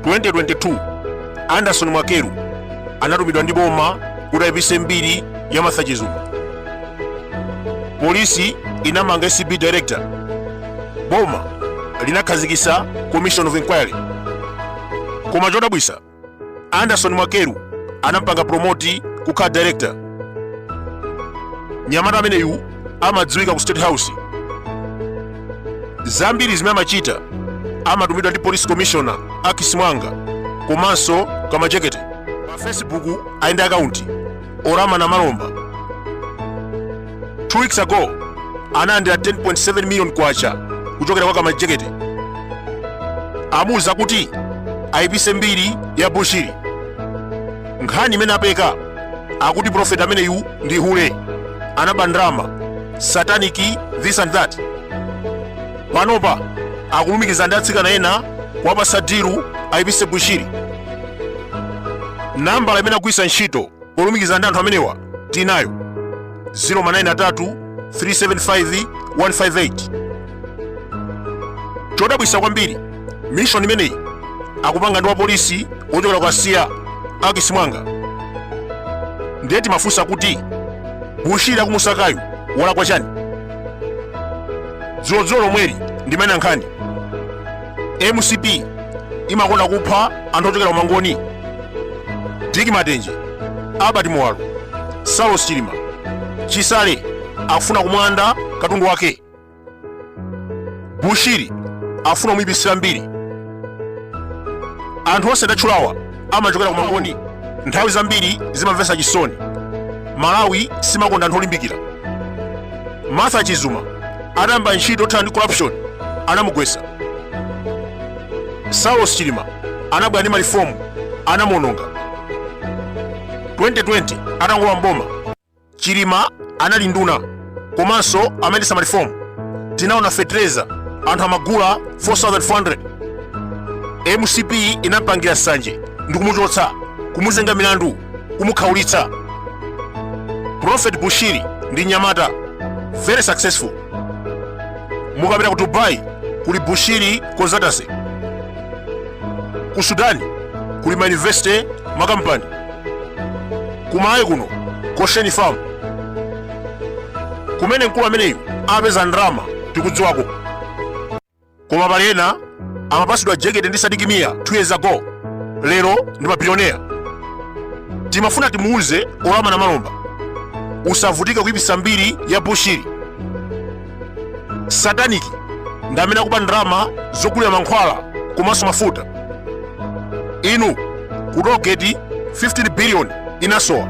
2022 anderson mwakyelu anatumidwa ndi boma kuti ayipise mbiri ya martha chizuma polisi inamanga acb director boma linakhazikisa commission of inquiry koma chodabwisa anderson mwakyelu anampanga promoti kukhala director nyamata ameneyu amadziwika ku state house zambiri zimene amachita amatumidwa ndi police commissioner akis muwanga komanso kamajekete pa facebook ali ndi akaunti orama na malomba 2 weeks ago analandira 10.7 million kwacha kuchokera kwa kamajekete amuwuza kuti ayipise mbiri ya bushiri nkhani imene apeka akuti profeti ameneyu ndi hule anaba ndalama satanic this and that panopa akulumikiza ndi atsikana ena kuwapasa dilu aipise bushiri nambala imene agwiritsa ntchito polumikiza ndi anthu amenewa tinayo 093 375 158 chodabwisa kwambiri mission imeneyi akupanga ndi wapolisi wochokera kwa siya akis muwanga ndiye timafunsa kuti bushiri akumusakayu walakwa chani dzulodzulo lomweli ndimene ankhani mcp imakonda kupha anthu ochokera kumangoni dick matenje albert muwalo saulos chilima chisale akufuna kumulanda katundu wake bushiri afuna kumuyipitsira mbiri anthu onse ndatchulawa amachokera kumangoni nthawi zambiri zimamvetsa chisoni malawi simakonda anthu olimbikira martha chizuma atayamba ntchito yothana ndi corruption anamugwetsa saulos chilima anabwera ndi malifomu anamuononga 2020 atangolowa mboma chilima anali nduna komanso amayendesa marifomu tinaona fetereza anthu amagula 4400 mcp inampangira nsanje ndikumuchotsa kumuzenga milandu kumukhaulitsa prophet bushiri ndi nyamata very successful mukapita ku dubai kuli bushiri consultancy ku sudani kuli mauniversity makampani kumalawi kuno goshen farm kumene mkulu ameneyu apeza ndalama tikudziwako koma pali ena amapasidwa jekete ndi sidik mia 2 years ago lero ndi mabilionea timafuna timuuze orama na malomba usavutike kuipisa mbiri ya bushiri satanic ndi amene akuba ndalama zogulira mankhwala komanso mafuta inu ku tollgate 15 billion inasowa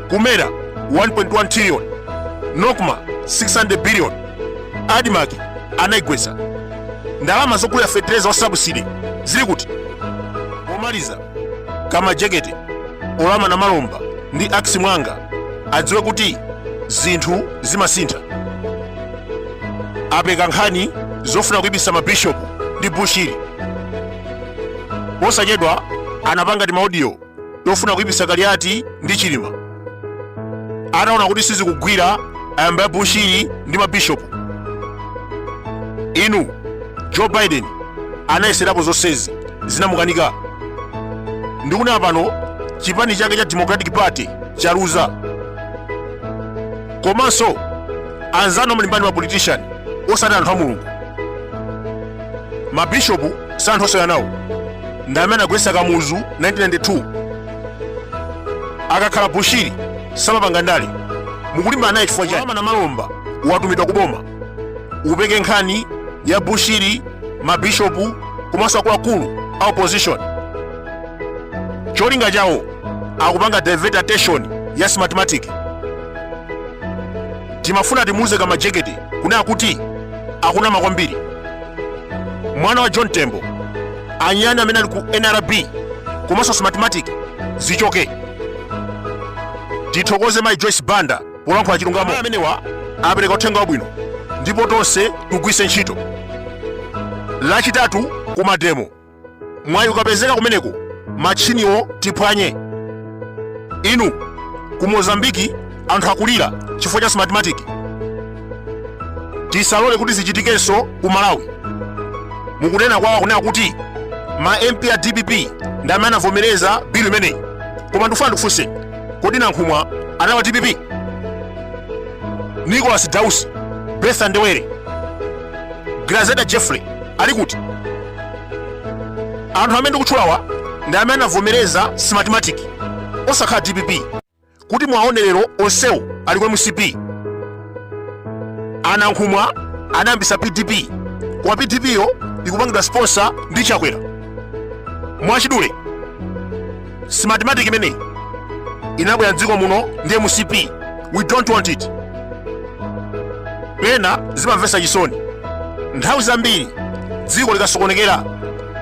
ku mera 1.1 trillion nocma 600 billion admarc anaigwetsa ndalama zogulira fetereza wa subsidy zili kuti pomaliza kamajekete ulama namalomba ndi ax mwanga adziwe kuti zinthu zimasintha apeka nkhani zofuna kuipisa mabishopu ndi bushiri posachedwa anapanga timaudiyo tofuna kuipisa kaliati ndi chilima ataona kuti sizikugwira ayamba ya bushiri ndi mabishopu inu joe biden anayeserapo zonsezi zinamukanika ndikunena pano chipani chake cha democratic party chaluza komanso anzanu amalimbana ndi ma politician osati anthu a mulungu mabishopu si anthu osewera nawo ndi amene anagwetsa kamuzu 1992 akakhala bushiri samapanga ndale mukulimbana naye chifukwa chani namalomba watumidwa kuboma upeke nkhani ya bushiri mabishopu komanso akuluakulu a opposition cholinga chawo akupanga divert attention ya smartmatic timafuna timuuze kamajekete kunena kuti akunama kwambiri mwana wa john tembo anyani amene ali ku nrb komanso smartmatic zichoke tithokoze mayi joyce banda polankhula chilungamo amenewa apereka uthenga wabwino ndipo tonse tigwiritse ntchito lachitatu kumademo mwayi ukapezeka kumeneko matchiniwo tiphwanye inu ku mozambiki anthu akulira chifukwa cha smartmatic tisalole kuti zichitikenso ku malawi mukunena kwawo akuneka kuti ma mp a dpp ndi amene anavomereza bilu imeneyi koma ndikufuna ndikufunse kodi nankhumwa anali wa dpp nicholas dausi bertha ndebele grezelder jeffrey ali kuti anthu amene ndikutchulawa ndi amene anavomereza smartmatic osakhala dpp kuti muwaone lero onsewo ali kwa mcp anankhumwa anayambisa pdp koma pdp yo ikupangidwa sponsor ndi chakwera mwachidule smartmatic imeneyi inabwera mdziko muno ndi mcp we don't want it pena zimamvetsa chisoni nthawi zambiri dziko likasokonekera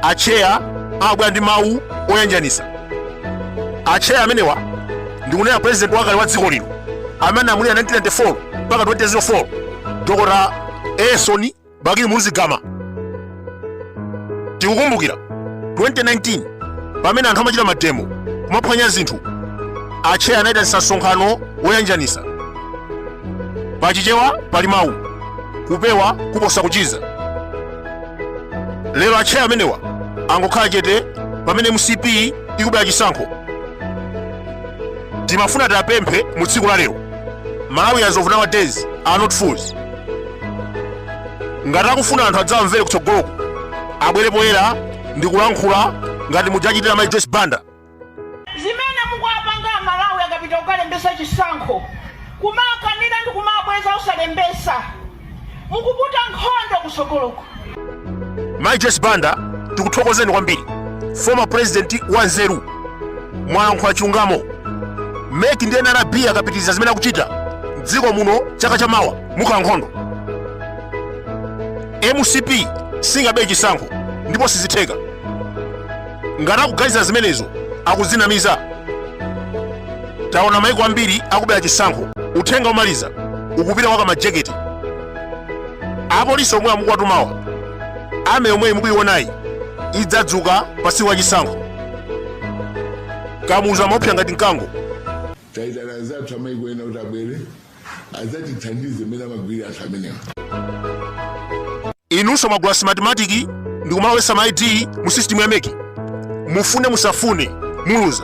atcheya amabwera ndi mawu oyanjanisa atcheya amenewa ndikunena president wakale wa dziko lino amene analamulira 1994 mpaka 2004 dr Elson Bakili Muluzi Gama. Tikukumbukira 2019 pamene anthu amachita mademo kumaphwanya zinthu atcheya anayitanisa msonkhano woyanjanisa pachichewa pali mawu kupewa kuposa kuchiza lero atcheya amenewa angokhala chete pamene mcp ikubera chisankho timafuna tiwapemphe mu tsiku la lero malawians of nowadays are not fools ngati akufuna anthu adzawamvere kutsogoloku abwere poyera ndi kulankhula ngati muja achitira mai joyce banda zimene mukuwapanga amalawi akapita kukalembesa chisankho kumawakanira ndi kumawabweza usalembesa mukuputa nkhondo kusogoloko Mai Joyce Banda tikuthokozeni kwambiri former president wa nzeru mwalankhula chilungamo meki ndi nrb akapitiriza zimene akuchita mdziko muno chaka cha mawa mukhala nkhondo mcp singabe chisankho ndipo sizitheka ngati akuganiza zimenezo akuzinamiza taona maiko ambiri akubera chisankho uthenga womaliza ukupita kwa akamajeketi apolisi omwe amukuwatumawa army yomweyi mukuionayi idzadzuka pa tsiku la chisankho kamuzu amaopsa ngati mkango taitana anzathu amaiko ena kuti abwere adzatithandize mmene amagwirira anthu amenewa inunso mwagula smartmatic ndi kumalowesa ma id mu system ya meki mufune musafune muluza